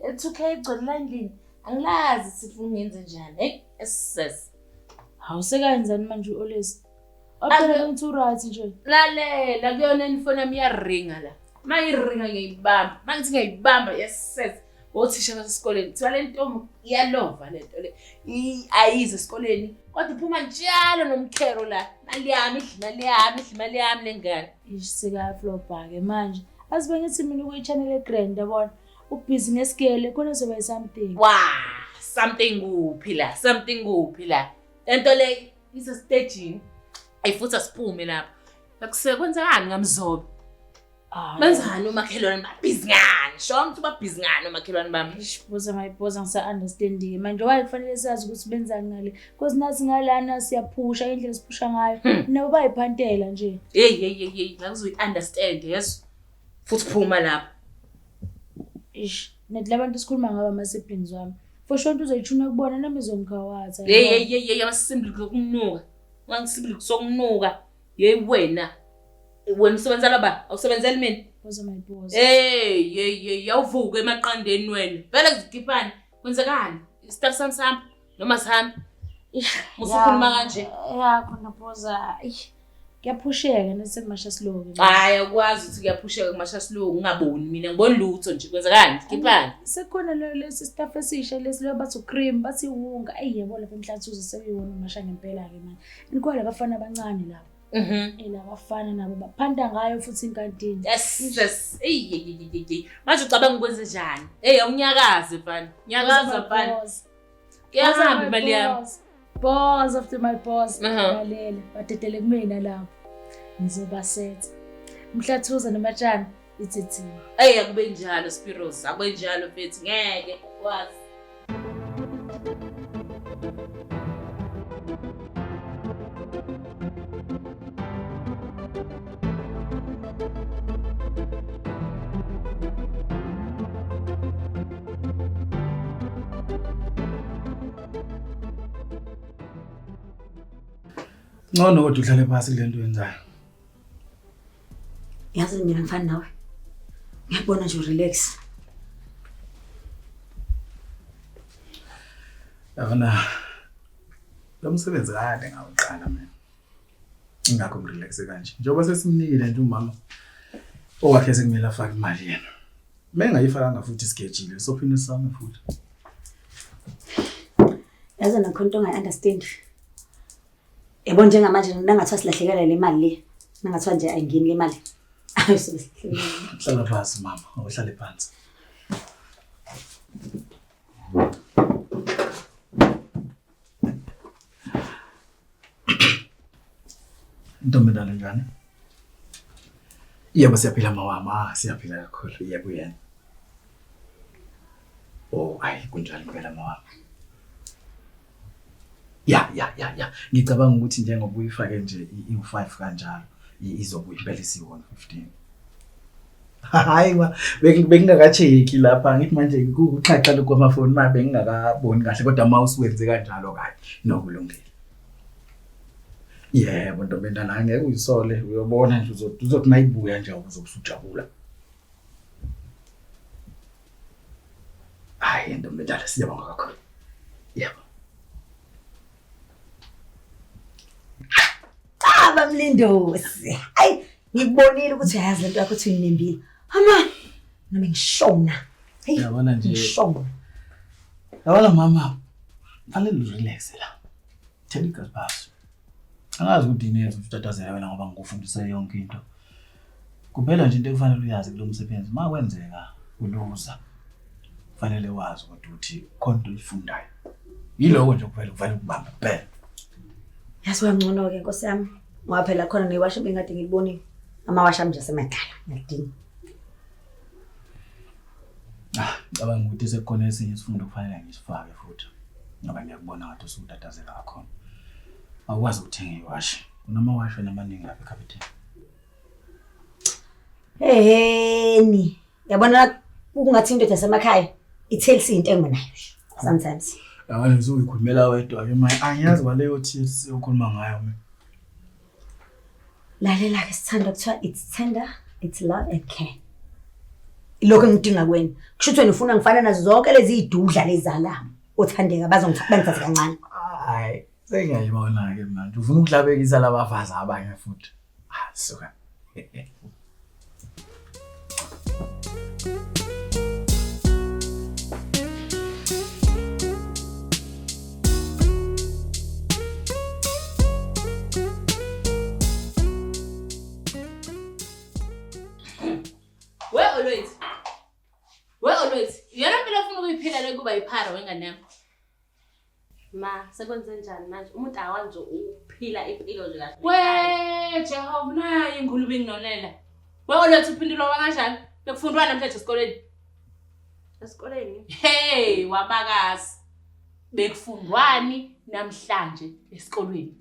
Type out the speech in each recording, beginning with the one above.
L2K igcwele la endlini. Angilazi sifuna ungenze njani. Hey, SS. Hawu sekayenzani manje uOlesi? Aphela ukuthi uright nje. Lalela kuyona ifoni yami iyaringa la. Mayiringa ngiyibamba. Mangithi ngiyibamba SS. Othisha basesikoleni kuthiwa le ntombi iyalova le nto le. Ayize esikoleni kodwa iphuma njalo nomkhero la. Mali yami, imali yami, imali yami lengane. Isika flopha ke manje. Azibe ngithi mina ukuyichanele grand yabona. ubhizi ngesigele khona zoba yisomething wa something kuphi la something kuphi la lento le isestejini ayifuthi asiphume lapho akusekwenzekani ngamzobe benzani umakhelwane babhizi ngani sho ukuthi babhizi ngani umakhelwane bami buza mayibhoza ngisa-understandike manje waye kufanele sazi ukuthi benzani ngale because nathi ngalana siyaphusha indlela siphusha ngayo hmm. nabo bayiphantela nje heyi heyi heyi heyi ngakuzoyi-understand yeso Futhi phuma lapho. Ish, nathi labantu sikhuluma ngaba ama siblings wami. For sure into uzoyithuna kubona nami izongigawaza. Hey hey hey hey amasimbi lokunuka. Ngangisimbi sokunuka. Hey wena. Wena usebenza laba, awusebenzeli mina. Bozo my boss. Hey hey hey yawuvuka emaqandeni wena. Vele kuzikhipani. Kwenzekani? Staff sam sam. noma sihambe musukhuluma kanje ya khona boza kuyaphusheka nesemasha silungu hayi akwazi ukuthi kuyaphusheka kumasha silungu ungaboni mina ngibona lutho nje kwenzekani khiphani sekhona lo lesi staff esisha lesi lo bathi cream bathi wunga ayi yebo lapha emhlathuzo seyiwona umasha ngempela ke manje nikwala bafana abancane lapha Mhm. Ela bafana nabo baphanda ngayo futhi inkantini. Yes, yes. Ey, manje ucabanga ukwenze njani? Ey, awunyakaze mfana. Nyakaza mfana. Kuyahamba imali yami. Boss after my boss. Lalela, badedele kumina lapho. Ngizobasetha. Mhlathuza nomatshana ithethiwe. Ey akube njalo Spiros, akube njalo mfethu ngeke wazi. Ngcono kodwa uhlale phansi kule nto yenzayo. Yazi mina ngifana nawe. Ngiyabona nje relax. Yabona lo msebenzi kade ngawuqala mina. ingakho ngirelaxe kanje njengoba sesimnikile nje umama owakhe sekumele afake imali yena uma engayifakanga futhi isigejile sophinde sisame futhi yazi nakho into ongayi-understand yabo njengamanje nangathiwa silahlekelwa le mali le nangathiwa nje ayingeni le mali hlala phansi mama awuhlale phansi Ntombendala njani? Yebo siyaphila mawama, ah, siyaphila kakhulu. Yebo yena. Oh, ayi kunjani impela mawama. Ya ya ya ya. Ngicabanga ukuthi njengoba uyifake nje i-5 kanjalo izobuya impela isiwona 15. hayi ma bengingakacheki lapha ngithi manje kuxhaxha lokhu kwamafoni ma bengingakaboni kahle kodwa ma usiwenze kanjalo kahle nokulungile yebo ntombi endala ngeke uyisole uyobona nje uzothi mayibuya nje uzobusujabula hayi ntombi endala siyabonga kakhulu yebo abamlindosi ayi ngikubonile ukuthi ayazi lento yakho ukuthi uyinembile ama nami ngishona hey yabona nje ngishona yabona mama fanele urelax la thela igazi baso angazi ukuthi inenze ukutatazela wena ngoba ngikufundise yonke into kuphela nje into ekufanele uyazi kulo msebenzi uma kwenzeka uluza kufanele wazi ukuthi uthi khona into oyifundayo yiloko nje kuphela kufanele ukubambe kuphela yazi wangcono-ke nkosi yami Ngoba phela khona newashi bengade ngilibonile. Amawashi ami nje asemadala, ngiyadinga. Ah, cabanga ukuthi sekukhona esinye isifundo kufanele ngisifake futhi. Ngoba ngiyakubona ngathi usutatazela kakhulu. Awukwazi ukuthenga iwashi. Unamawashi wena amaningi lapha ekhabetheni. Eheni. yabona kungathi indoda yasemakhaya ithelisa iy'ntengo nayo sometimes yabona ngizoyikhulumela wedwa ke manje angiyazi kwaleyo tears yokhuluma ngayo mina lalela-ke sithanda kuthiwa it's tender it's love and care lokho engidinga kweni kusho ukuthi wena ufuna ngifana nazo zonke lezi iy'dudla lezalama othandeka bazongithathe kancane hayi sengiyayibona-ke mnandi ufuna ukuhlabekisa labafazi abanye futhi Ah, suka. We Olwethu. We Olwethu. Yona mpilo ofuna ukuyiphila le kuba yiphara wengane yakho. Ma, sekwenze njani manje? Umuntu akakwazi nje ukuphila impilo nje kahle. We Jehova naye ingulube inginonela. We oletha uphindulo kanjani? Bekufundwa namhlanje esikoleni. Esikoleni? Hey, wabakazi. Bekufundwani namhlanje esikolweni?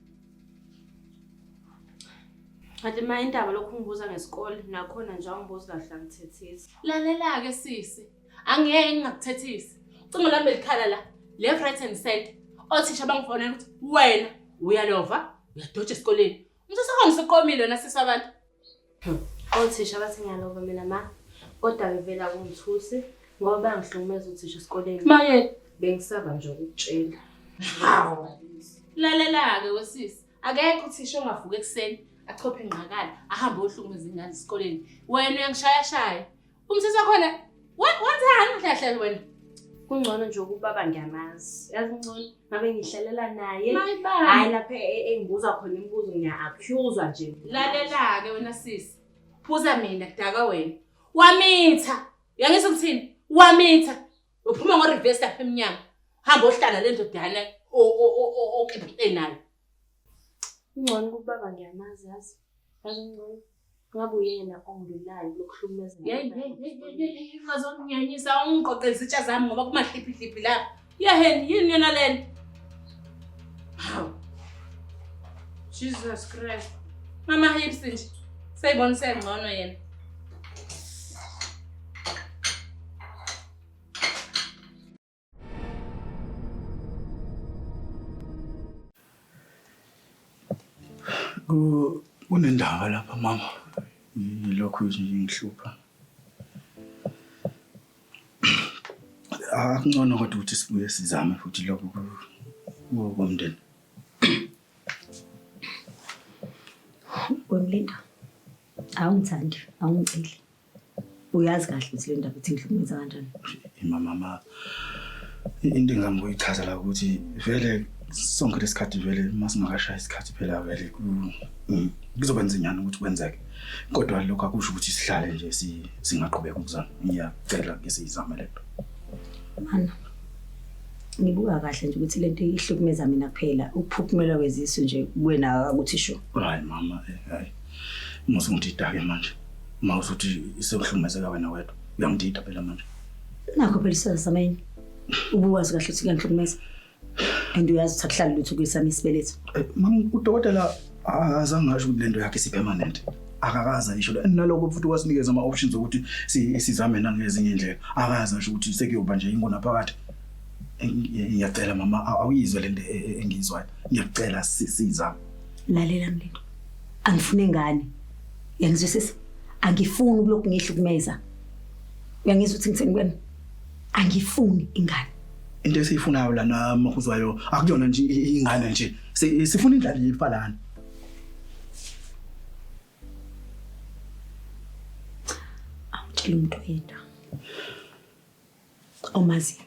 Kanti ma indaba lokhu ngibuza ngesikole nakhona nje angibuzi kahle angithethisi. Lalela-ke sisi. angeke ngingakuthethisi ucingo lami belikhala la left right and center othisha bangifonela ukuthi wena uyalova uyadoja esikoleni umthetho wakhona usuqomile wena sisi wabantu othisha bathi ngiyalova mina ma kodwa ngivela kungithusi ngoba bangihlukumeza uthisha esikoleni maye bengisaba nje ukutshela hawu lalela-ke wesisi akekho uthisha ongavuka ekuseni achophe ingqakala ahambe ohlukumeza ingane esikoleni wena uyangishayashaya Umsisi wakhona wenzani mhlahlelo wena? Kungcono nje ukubaba ngiyamazi. Yazi ngcono ngabe ngihlalela naye. Hayi lapha e, e, engibuza khona imibuzo ngiya-accuswa nje. Lalela-ke wena sisi. Buza mina kudaka wena. Wamitha. Uyangisa ukuthini? Wamitha. Uphuma ngo-reverse lapha emnyango. Hamba ohlala le ndodana okepite nayo. Kungcono ukubaba ngiyamazi yazi. Yazi ngcono. ngabe uyena ongilulayo lokuhlukumeza yeyi ungazonginyanyisa ungiqoqe izitsha zami ngoba kumahliphihliphi lapha yeheni yini yona le nto hawu jesus christ mama hips nje seyibona isengcono yena Ku- Kunendaba lapha mama. Yilokhu nje ngihlupha. Ah, kungcono kodwa ukuthi sibuye sizame futhi lokhu ku- ku- komndeni. Wemlinda, awungithandi, awungiceli. uyazi kahle ukuthi le ndaba ithi ngihlukumeza kanjani imama ma into engihamba uyichaza la ukuthi vele sonke lesikhathi vele uma singakashayi isikhathi phela vele mm, kuzoba nzinyana ukuthi kwenzeke kodwa lokho akusho ukuthi sihlale nje singaqhubeka ukuzama ngiyacela ke siyizame lento mana ngibuka kahle nje ukuthi lento ihlukumeza mina kuphela ukuphuphumela kwezisu nje kuwena akuthi sho hayi mama eh, hayi Musa ungidida ke manje. Uma usuthi isekuhlumezeka wena wedwa. Uyangidida phela manje. Nakho phela isizathu sameni. Ubuwazi kahle ukuthi kuyangihlumeza. And uyazi ukuthi akuhlali lutho kuyisami isibeletho. Eh, Mama udokotela azange asho ukuthi lento yakhe isipermanent. Akakaze ayisho lo. And naloko futhi wasinikeza ama options ukuthi si- sizame nangezinye indlela. Akaze asho ukuthi sekuyoba nje ingona phakathi. Eh, ngiya- Ngiyacela mama aw- awuyizwe lento e- e- engiyizwayo. Ngiyacela si- sizame. Lalela mlindi. Angifune ngane. Uyangizwisisa? Angifuni ukulokhu ngihlukumeza. Uyangizwa ukuthi ngithini kuwena? Angifuni ingane. Into esiyifunayo lana makhuzwayo akuyona nje ingane nje. Si- Sifuna indlali yifa lana. Awutshela umuntu oyedwa. Omaziyo.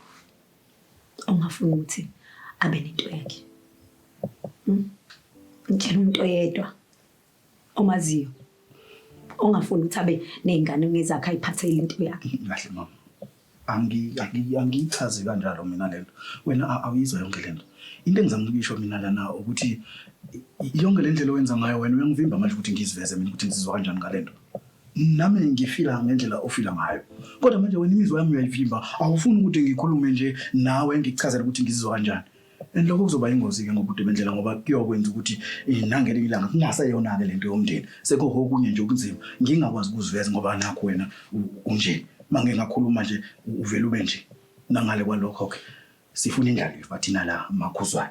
ongafuni ukuthi abe nento yakhe hmm? ngitshela umuntu oyedwa omaziyo ongafuni ukuthi abe nezingane ngezakhe ayiphathele into yakhe kahle mama angiyichazi kanjalo mina lento wena awuyizwa yonke lento into engizama ukuyisho mina lana ukuthi yonke le ndlela owenza ngayo wena uyangivimba manje ukuthi ngiziveze mina ukuthi ngizizwa kanjani ngalento Nami ngifila ngendlela ofila ngayo, kodwa manje wena imizwa yami uyayivimba. Awufuni ukuthi ngikhulume nje nawe ngikuchazele ukuthi ngizizwa kanjani. And lokho kuzoba ingozi-ke ngobude bendlela ngoba kuyokwenza ukuthi eh, nangelinye ilanga kungaseyona-ke le nto yomndeni sekukho okunye nje okunzima ngingakwazi ukuziveza ngoba nakho wena u- unje uma ngike ngakhuluma nje u- uvele ube nje nangale kwalokho-ke sifuna indlalifa thina la makhuzwayo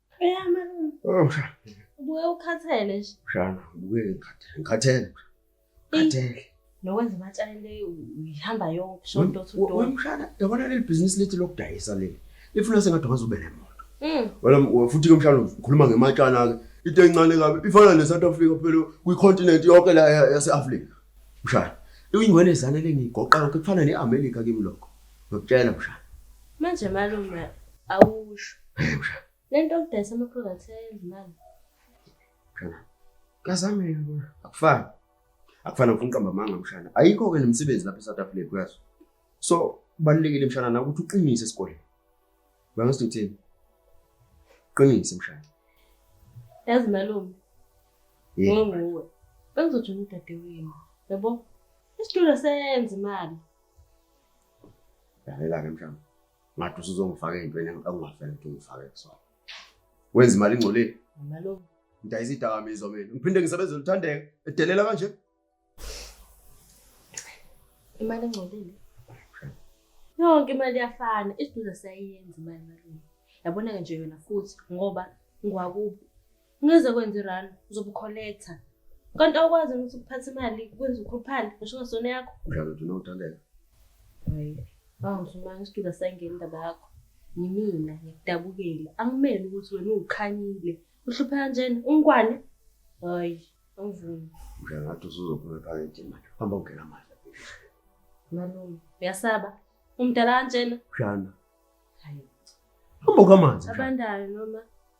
Eya malume. Oh, ubuye ukhathele nje. Shana, ubuye ngikhathele. Ngikhathele. Ngikhathele. Nokwenza imatshale uyihamba yonke shonto uthudona. Wemshana, yabona leli business lethu lokudayisa leli. Lifuna sengathi ungaze ube nemoto. Mm. Wena futhi ke mshana ukhuluma ngematshana ke. Into encane kabi ifana ne South Africa phela kwi continent yonke la yase Africa. Mshana, uyingwele zane lengigoqa yonke kufana ne America kimi lokho. Ngikutshela mshana. Manje malume awusho. Hey mshana. Lento okudayisa ama products eyenza imali. Mshana. Kazame yona. Akufani. Akufani ufuna uqamba amanga mshana. Ayikho ke nomsebenzi lapha eSouth Africa kuyazi. So kubalulekile mshana na ukuthi uqinise esikoleni. Bangathi uthini? Qinise mshana. Yazi malume. Yeah. Ngonguwe. Bengizojula udadewenu. Yabo? Isitulo senza imali. Lalela-ke mhlawumbe ngathi usuzongifaka ey'ntweni engingafanele ukuthi ungifake kusona. Wenza imali ingcolile. Nalokho. Ngidayisa idakamizwa mina. Ngiphinde ngisebenze luthandeka edelela kanje. Imali engcolile. Yonke imali iyafana, isiduza siyayenza imali malini. Yabona-ke nje yona futhi ngoba ngwakubo Ngeze kwenza irun uzobe ukholektha. Kanti awukwazi ukuthi ukuphatha imali kwenza ukhuluphale ngisho ngasona yakho. Njalo nje unodaleka. Hayi. Awungizuma ngisituka sangena indaba yakho. Yimina ngikudabukela. Angimeli ukuthi wena ukhanyile. Uhlupha kanjena ungwane. Hayi, angivumi. Njengathi usuzophuma ephaketheni manje. Hamba ungena manje. Malume, uyasaba. Umdala kanjena. Shana. Hayi. Hamba ukamanzi. Abandayo noma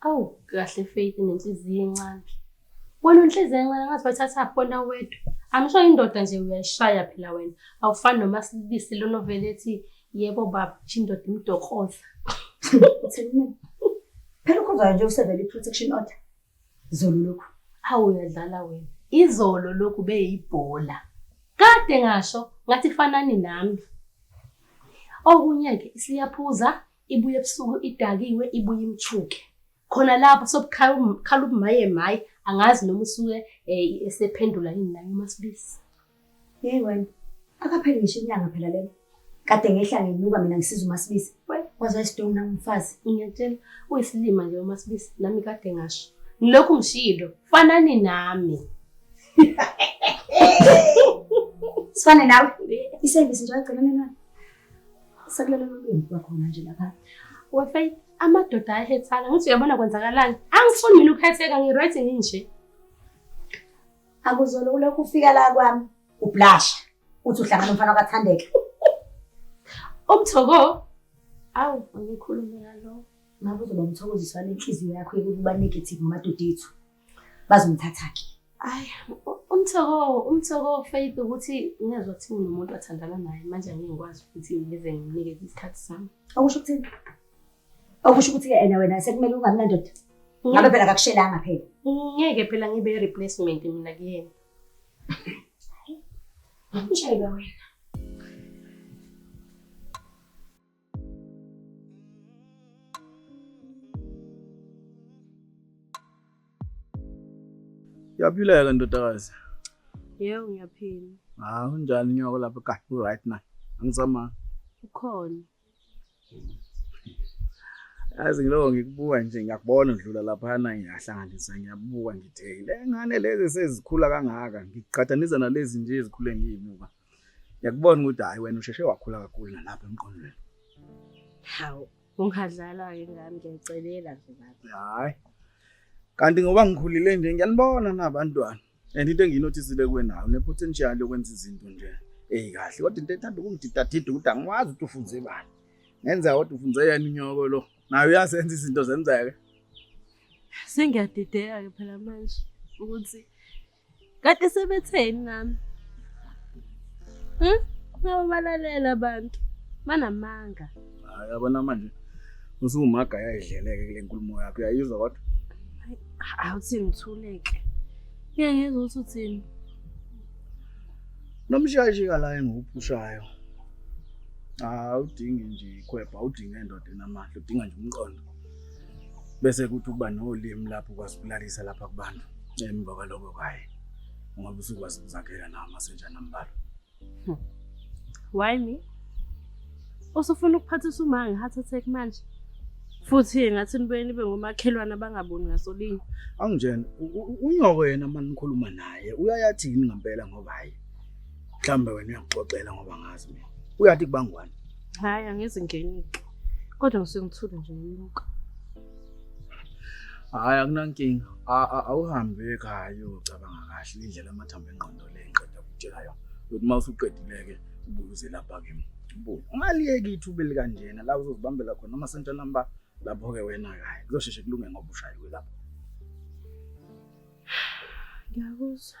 Awu kahle Faith nenhliziyo encane. Wena unhliziyo encane ngathi wathatha khona wedwa. Angisho indoda nje uyayishaya phela wena. Awufani noma silibisi lona vele ethi yebo baba indoda imdokoza. Phela ukhuzwayo nje usevele i-protection order. Zolo lokhu. Awu uyadlala wena. Izolo lokhu beyibhola. Kade ngasho ngathi fanani nami. Okunye-ke isiyaphuza Ibuye ebusuku idakiwe ibuye imthuke. Khona lapho sobukhala ukukhala ubumaye maye angazi noma usuke eh, esephendula yini naye uMasibisi. Hey wena, akapheli ngisho inyanga phela lena. Kade ngehla ngenyuka mina ngisiza uMasibisi. Wazwa isidungu na umfazi. Ngiyatshela uyisilima nje uMasibisi nami kade ngasho. Ngilokhu ngishilo fanani nami. Sifane nawe. Isevisi nje wagcina nenani. Sekulalelwa umyeni kwakhona nje lapha. We Faith, amadoda ayahethana. Ngithi uyabona kwenzakalani? Angifuni mina ukuhetheka, ngi-right nginje. Akuzona ulokhu ufika la kwami ublasha uthi uhlangana nomfana wakathandeka. Umthoko. Awu, angikhulume ngalo. Ngabe uzoba umthokoziswa nenhliziyo yakho yokuba negative ngamadoda ethu. bazomthatha ke ayi umthoko umthoko faith ukuthi ngezwa ukuthi unomuntu athandana naye manje angeke ngikwazi ukuthi ngize nginike isikhathi sami okusho ukuthi okusho ukuthi yena wena sekumele ungabi nandoda ngabe phela kakushelanga phela ngeke phela ngibe replacement mina kuyena Nje wena. Uyaphileka ndodakazi? Yebo ngiyaphila. Ah, unjani nyoko lapha ka? U right na? Angizama. Ukhona. Yazi ngiloko ngikubuka nje ngiyakubona udlula lapha na ngiyahlanganisa ngiyabuka ngithe le ngane lezi sezikhula kangaka ngiqhathanisa nalezi nje ezikhule ngiyibuka. Ngiyakubona ukuthi hayi wena usheshe wakhula kakhulu nalapha emqondweni. Hawu, ungadlala ke ngami ngiyacelela nje ngathi. Hayi. Kanti ngoba ngikhulile nje ngiyanibona nabantwana. And into engiyinotisile kwenayo ne potential yokwenza izinto nje. Ey kahle kodwa into ethanda ukungididadida ukuthi angiwazi ukuthi ufunze bani. Ngenza kodwa ufunze yena inyoko lo. Nayo uyasenza izinto zenzeke. Sengiyadideka ke phela manje ukuthi Kade sebetheni nami. Hm? Ngaba balalela abantu. Banamanga. Hayi abana manje. Usumaga yayidleleke kule nkulumo yakho. Uyayizwa kodwa? Awuthi ngithuleke. Ngeke ngizwe ukuthi uthini. Nomshashi kala engiwuphushayo. Awudingi nje ikhwebha, awudingi endoda enamandla, udinga nje umqondo. bese kuthi ukuba nolimi lapho kwasibulalisa lapha kubantu emva kwaloko kaye ungabe usukwazi ukuzakhela nawo amasenjana ambalwa hmm. why me usufuna ukuphathisa uma ngi-heart attack manje futhi ngathi nibuye nibe ngomakhelwane abangaboni ngasolinye anginjena unyoko yena uma nikhuluma naye uyayathini ngampela ngoba hayi Mhlambe wena uyakuxoxela ngoba ngazi mina. Uyathi kubangwani? Hayi angizingenike. Kodwa usengithule nje nginuka. Hayi akunankinga. Awuhambe ekhaya uyocabanga kahle indlela amathambo engqondo le ngiqeda ukutshela yona. Ukuthi uma usuqedileke ubuze lapha kimi. Ubuye. Ungaliyeki ithuba elikanjena la uzozibambela khona noma sentshana mba lapho ke wena kahle. Kuzosheshe kulunge ngoba ushayiwe lapho. Ngiyakuzwa.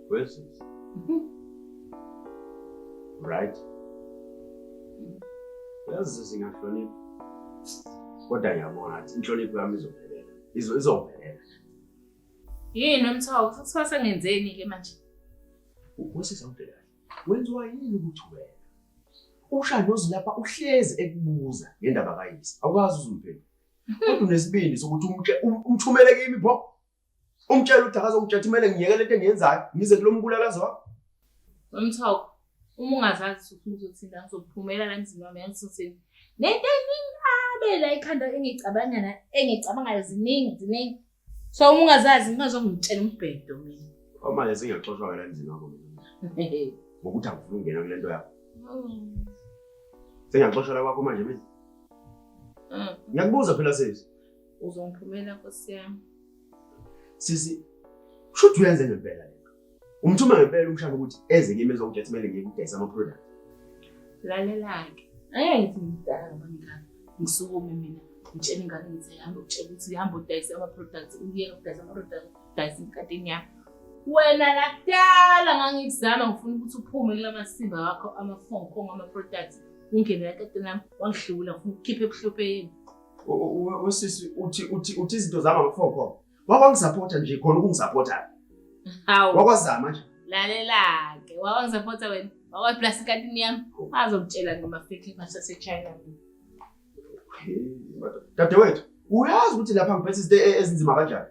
Where's this? right? Yazi sisi ngahlonipha. Kodwa ngiyabona ngathi inhlonipho yami izophelela. Izo izophelela. Yini umthawu futhi kwase ngenzeni ke manje? Ukwesisa ubheka. Wenziwa yini ukuthi wena? Usha nozilapha uhlezi ekubuza ngendaba kayise. Awukazi uzumphendula. Kodwa unesibindi sokuthi umthumele kimi pho. Umtshela ukuthi akazongitshela ukuthi kumele ngiyeke lento engiyenzayo ngize kulo mbulalazi wakho. Wemthoko, uma ungazazi ukuthi uzothinda ngizophumela la emzini wami yangisosini. Nento eningabe la ikhanda engicabanga na engicabangayo ziningi ziningi. So uma ungazazi ngingazongitshela umbhedo mina. Kwamanje singaxoshwa la emzini wakho mina. Ngokuthi angifuni ukungena kule nto yakho. Mm. Sengiyaxoshela kwakho manje mina. Mm. Ngiyakubuza phela sisi. Uzongiphumela nkosi yami. Sisi shuthi uyenze ngempela lento. Umthuma ngempela umshana ukuthi eze kimi ezokudla kumele ngikudayisa ama product. Lalelake. Ayay ngidala mangani. Ngisukume mina ngitshela ingane ngithi hamba ukutshela ukuthi hamba udayisa ama products uyeke ukudayisa ama products udayisa inkatini yakho. Wena lakudala ngangikuzama ngifuna ukuthi uphume kulamasimba wakho ama phone call ama products ungene lakatini lami wangihlula ngifuna ukukhipha ebuhlopeni. Usisi uthi uthi uthi izinto zami amfoko. Wakwangisupporta nje khona ukungisupporta. Hawu. Wakwazama nje. Lalela ke. Wakwangisupporta wena. Wakwa plus katini yami. Azokutshela ngama fake masa se China. Dadewethu, uyazi ukuthi lapha ngiphethe izinto e-, ezinzima kanjani?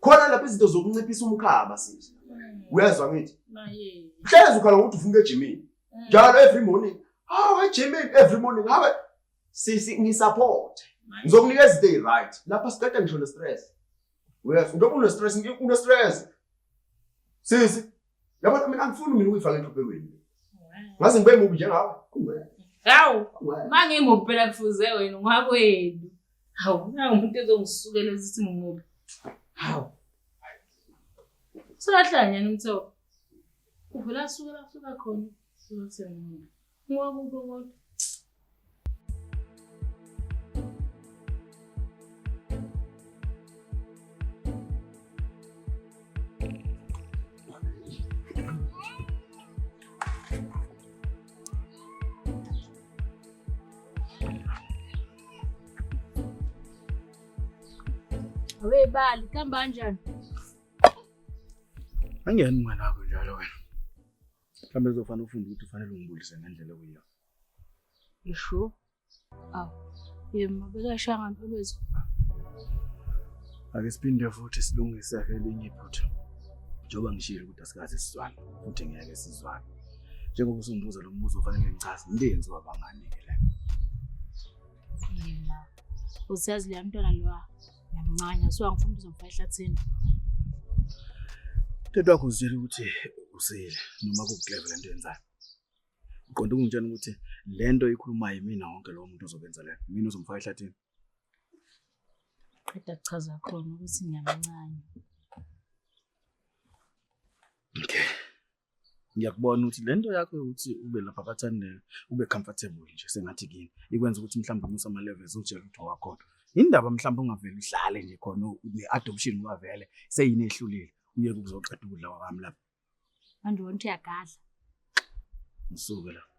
Khona lapha izinto zokunciphisa umkhaba sisi. Mm. Uyazwa ngithi? Maye. Hlezi ukhala ukuthi ufunke ejimini. Mm. Njalo every morning. Hawu ejimini every morning. Hawe sisi ngisupport ngizokunika izinto eziryt lapha siqeda ngisho ne-stress yes njengoba une-stress une-stress sisi yabona mina angifuni mina ukuyifaka enhluphekweni ngaze ngibe mubi njengawe hawu ma ngimubi phela kufuze wena ngwakwenu hawu nawu umuntu ezongisukela esithi ngimubi hawu solahlanyana umthoko uvela suka la suka khona suka kusengimubi Ngokubo kodwa. We bali, kamba kanjani? Angiyani mngane wakho njalo wena. Mhlawumbe kuzofanele ufunde ukuthi ufanele ungibulise ngendlela okuyiyona. You sure? Aw. Yema bekashaya ngempilo wethu. Ake siphinde futhi silungise ke elinye iphutha. Njengoba ngishilo ukuthi asikaze sizwane futhi ngeke sizwane. Njengoba usungibuza lo mbuzo ufanele ngichaze ngenzi wabangani ke la. Yema. Usazi le mntwana lowa. Ngiyamncanya so angifuni uzomfa ehlathini. Tata wakho uzitshela ukuthi usile noma kukleva lento yenzayo. Uqonda ukungitshela ukuthi lento ikhulumayo imina wonke lowo muntu ozobenza le. Mina uzomfa ehlathini. Qeda kuchaza khona ukuthi ngiyamncanya. Okay. ngiyakubona ukuthi le nto yakho yokuthi ube lapha bathandeka ube comfortable nje sengathi kini ikwenza ukuthi mhlawumbe umusa ama-levels utshela ukuthi wakhona indaba mhlawumbe ungavele uhlale nje khona ne-adoption ungavele seyini ehlulile uyeke ukuzoqeda ukudla kwami lapha manje wona ukuthi uyagadla ngisuke lapha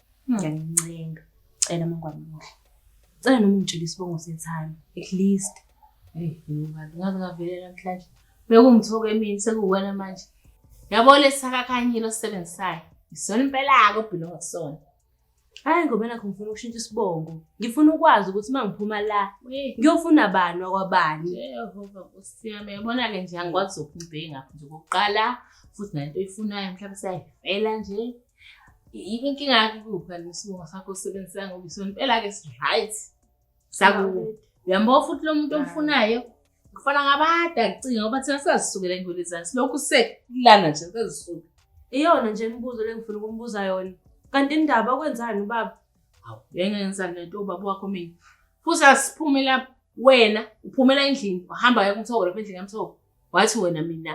Ngiyanincenga. Cela mangwane muhle. Cela noma ungitshele isibongo sethando at least. Hey, ngibani ngaze ngavele namhlanje. Bekungithoka emini sekuwena manje. Yabo lesisakakhanyile osisebenzisayo. Isona impela yako obhilo ngesona. Hayi ngoba nakho ngifuna ukushintsha isibongo. Ngifuna ukwazi ukuthi uma ngiphuma la ngiyofuna bani wakwabani. Jehova Nkosi yami yabona ke nje angikwazi ukubheka nje kokuqala futhi nento oyifunayo mhlawumbe sayivela nje inkinga yakho kupha nesimo sakho osebenzisa ngoba isompela-ke si-right sakubo uyambo futhi lo muntu omfunayo kufana ngabada kucinga ngoba thina sazisukela engwele zani silokhu sekulana nje sazisuka iyona nje imibuzo lengifuna ukumbuza yona kanti indaba okwenzani ubaba hawu yengenzani lento ubaba wakho mina futhi asiphume lapho wena uphumela endlini wahamba yeka umthoko lapha endlini yamthoko wathi wena mina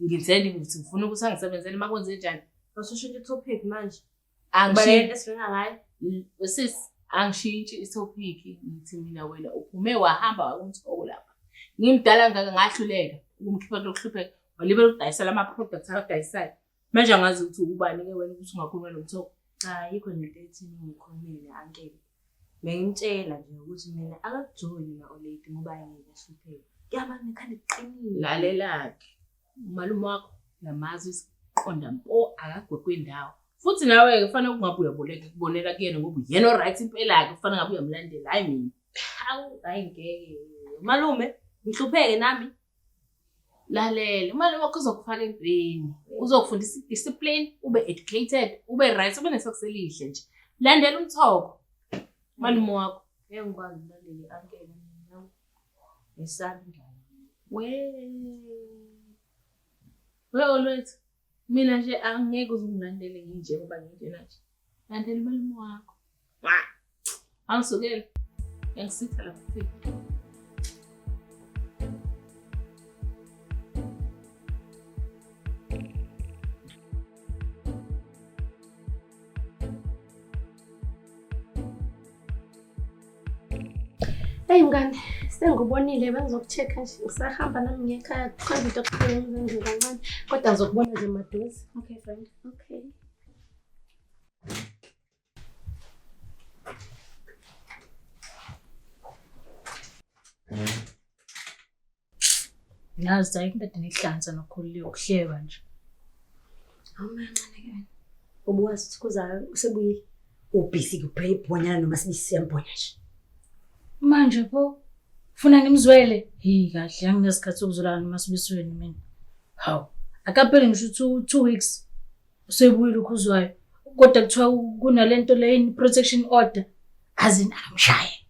ngenzeni ngithi ngifuna ukuthi angisebenzele uma kwenze njani Basushintsha i-topic manje. Angishintsha esilinga ngayo. Sis angishintshi i-topic ngithi mina wena uphume wahamba wakumthoko lapha. Ngimdala ngaka ngahluleka ukumkhipha lokuhlupheka. Walibela ukudayisela ama-products akadayisayo. Manje angazi ukuthi ubani ke wena ukuthi ungakhuluma nomthoko. Cha yikho nento ethi ngikhulumile ankele. Bengimtshela nje ukuthi mina akakujoli na-oledi ngoba yena ehlupheka. Kuyabani khanda kuqinile. Lalelakhe. umalume wakho uyamazi isiqonda mpo akagwegwe ndawo futhi nawe-ke kufanele kungabe uyaboleka kubonela kuyena ngoba uyena o-right impela-ke kufanele ngabe uyamlandela hhayi mina hawu hhayi ngeke umalume ngihlupheke nami lalela umalume wakho uzokufaka entweni uzokufundisa i-discipline ube educated ube right ube nesokusa elihle nje landela umthoko umalume wakho ngeke ngikwazi ulandele i-ankele Ngisanda. We. We olwethu. Mina nje angeke uzungilandele nginje ngoba nginjena nje. Landela umalume wakho. Wa. Angisukele. Ngisitha lapha kufika. Hey mngane, sengikubonile bengizokucheck nje ngisahamba nami ngekhaya kukhona into okukhona ngizenze kancane kodwa ngizokubona nje maduze. Okay friend. Okay. Mm. Yazi cha into edinihlanza nokhulile ukuhleba nje. Awumancane ke wena. Ubuwazi ukuthi kuzayo usebuyile. Ubusy kuphela ibhonyana noma sibisiyambhonya nje. Manje pho funa ngimzwele. Hi kahle anginesikhathi sokuzolala noma sibisweni mina. Hawu. Akapheli ngisho 2 weeks. Usebuyile ukhuzwayo. Kodwa kuthiwa kunalento leyini protection order. Azina amshaye.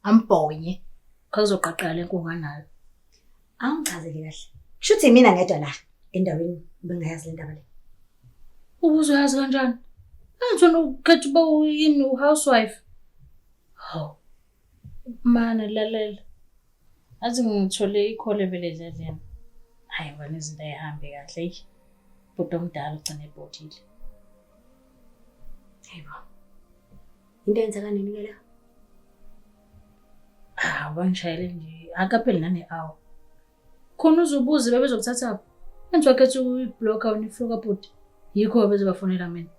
Ambhonye. Kazoqaqala lenkunga nayo. Angichazele kahle. Kushuthi mina ngedwa la endaweni bengayazi le ndaba le. Ubuzoyazi kanjani? Angithona ukhetha uba uyini uhousewife. Hawu. Mana lalela. Athi ngithole ikhole vele endleleni. Hayi wena izinto ayihambi kahle eyi. Bhuti omdala ugcine ebhodile. Hayibo. Into yenzeka nini ke la? Ah, bangishayele nje. Akapheli nane hour. Khona uzubuze bebezokuthatha. Enjwa kethu uyiblocker unifloka bhuti. Yikho bezobafonela mina.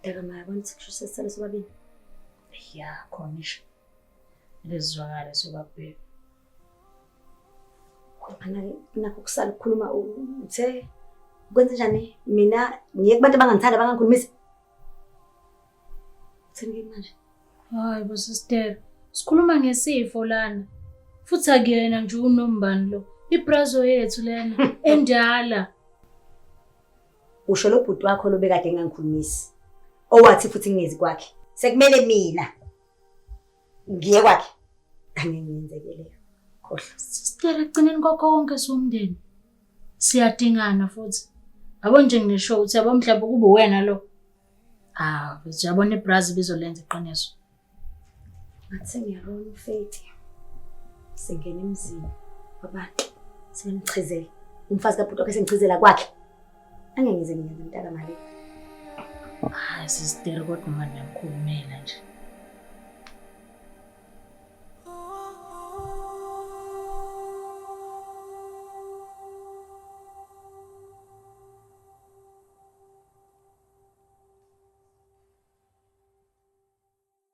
Dakamaya yabona ukuthi kusho sesisale sobabili. Ya khona isho. Lezizwakala sobabili. Khona nakho kusala ukukhuluma uthe kwenze njani mina ngiye kubantu abangangithanda abangangikhulumisi. Uthini kimi manje? Hayi bo sister. Sikhuluma ngesifo lana. Futhi akuyena nje unombani lo. Ibrazo yethu lena endala. Usho lo bhuti wakho lobekade engangikhulumisi. Owathi futhi ngingezi kwakhe. Sekumele mina ngiye kwakhe. Angeke ngenzeke leyo. Khohlwa. Sister ekugcineni kwakho konke somndeni. Siyadingana futhi. Yabo nje ngisho ukuthi yabo mhlawumbe kube wena lo. Ah, yabona ibrazi bizolenza iqiniso. Ngathi sengiyabona uFeti sengena emzini wabantu sebemchizela umfazi kabhuti wakhe sengichizela kwakhe angengize ngiyenze mntaka mali hayi sisiteri kodwa uma niyamkhulumela nje